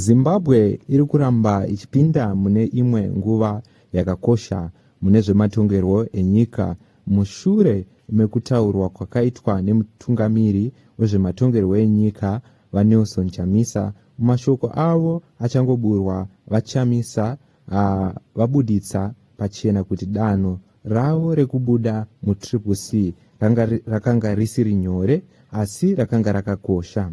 Zimbabwe iri kuramba ichipinda mune imwe nguva yakakosha mune zvematongerwo enyika mushure mekutaurwa kwakaitwa nemutungamiri wezvematongerwo enyika, VaNelson Chamisa, mumashoko avo achangoburwa. VaChamisa vabuditsa pachena kuti danho ravo rekubuda muTriple C ranga risiri nyore asi rakanga rakakosha.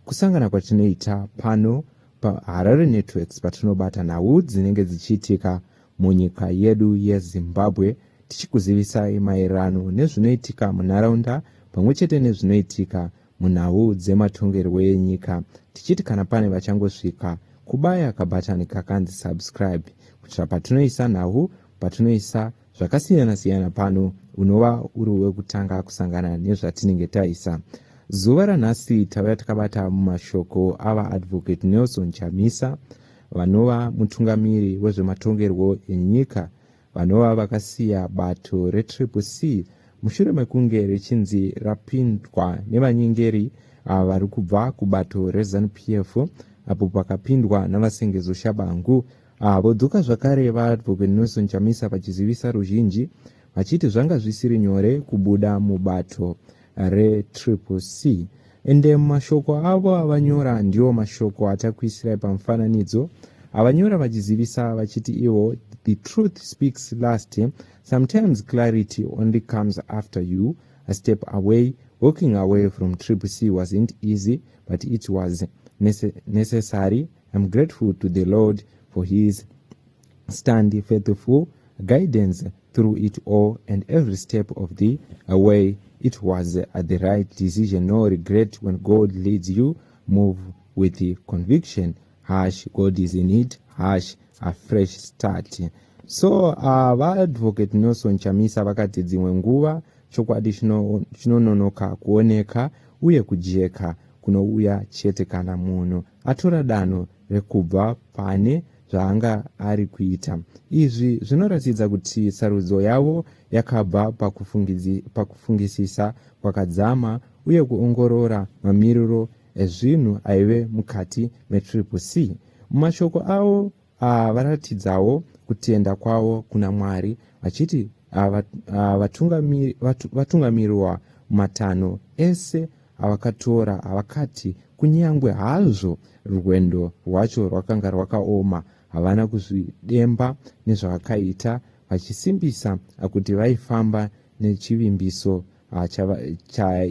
kusangana kwatinoita pano paharare networks patinobata nhau dzinenge dzichiitika munyika yedu yezimbabwe tichikuzivisai maererano nezvinoitika munharaunda pamwe chete nezvinoitika munhau dzematongerwo enyika tichiti kana pane vachangosvika kubaya kabhatani kakanzi subscribe kuitira patinoisa nhau patinoisa zvakasiyana-siyana pano unova uri wekutanga kusangana nezvatinenge taisa zuva ranhasi tauya takabata mumashoko avaadvocate nelson chamisa vanova mutungamiri wezvematongerwo enyika vanova vakasiya bato retriple c mushure mekunge richinzi rapindwa nevanyengeri ah, vari kubva kubato rezanup f apo pakapindwa navasengezo shabangu Ah, vodzoka zvakare VaAdvocate Nelson Chamisa vachizivisa ruzhinji vachiti zvanga zvisiri nyore kubuda mubato reTriple C. Ende mashoko avo avanyora ndiwo mashoko atakuisirai pamufananidzo avanyora vachizivisa vachiti ivo the truth speaks last sometimes clarity only comes after you a step away walking away from trip c wasn't easy but it was necessary I'm grateful to the Lord for his stand faithful guidance through it all and every step of the way it was at the right decision no regret when god leads you move with the conviction hash god is in it hash a fresh start so uh, vaadvocate nelson chamisa vakati dzimwe nguva chokwadi chinononoka kuoneka uye kujeka kunouya chete kana munhu atora danho rekubva pane zvaanga ari kuita. Izvi zvinoratidza kuti sarudzo yavo yakabva pakufungisisa kwakadzama uye kuongorora mamiriro ezvinhu aive mukati metriple C. Mumashoko avo Ava varatidzawo kutenda kwavo kuna Mwari vachiti ava vatungamiri, vatu, vatungamirwa matanho ese avakatora avakati kunyangwe hazvo rwendo rwacho rwakanga rwakaoma havana kuzvidemba nezvavakaita vachisimbisa kuti vaifamba nechivimbiso ah,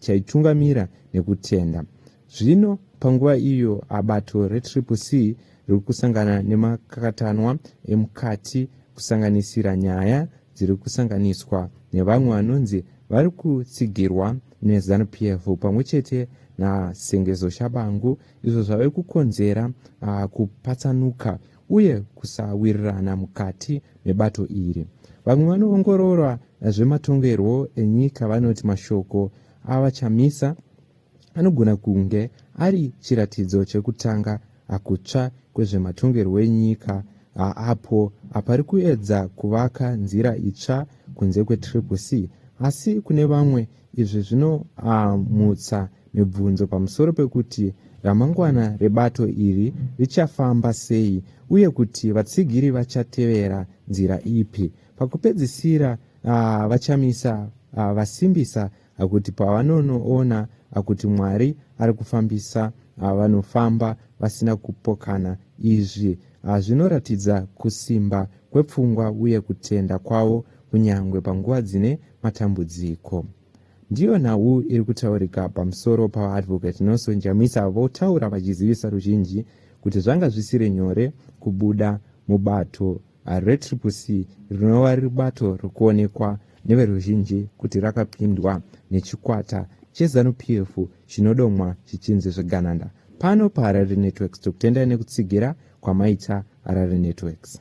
chaitungamira nekutenda zvino panguva iyo abato retriple c riri kusangana nemakakatanwa emukati kusanganisira nyaya dziri kusanganiswa nevamwe vanonzi vari kutsigirwa nezanup f pamwe chete nasengezo shabangu izvo zvave kukonzera ah, kupatsanuka uye kusawirirana mukati mebato iri. Vamwe vanoongorora zvematongerwo enyika vanoti mashoko aVaChamisa anogona kunge ari chiratidzo chekutanga akutsva kwezvematongerwo enyika apo apari kuedza kuvaka nzira itsva kunze kwetriple c asi kune vamwe izvi zvinomutsa ah, Mibvunzo pamusoro pekuti ramangwana rebato iri richafamba sei uye kuti vatsigiri vachatevera nzira ipi pakupedzisira uh, vachamisa uh, vasimbisa uh, kuti pavanonoona uh, kuti mwari ari kufambisa uh, vanofamba vasina kupokana izvi uh, zvinoratidza kusimba kwepfungwa uye kutenda kwavo kunyange panguva dzine matambudziko Ndiyo nhau iri kutaurika pamusoro paVaAdvocate Nelson Chamisa votaura vachizivisa ruzhinji kuti zvanga zvisiri nyore kubuda mubato reTriple C rinova riri bato rikuonekwa neveruzhinji kuti rakapindwa nechikwata cheZanu PF chinodomwa chichinzi zvegananda pano paHarare Networks tokutendai nekutsigira kwamaita Harare Networks.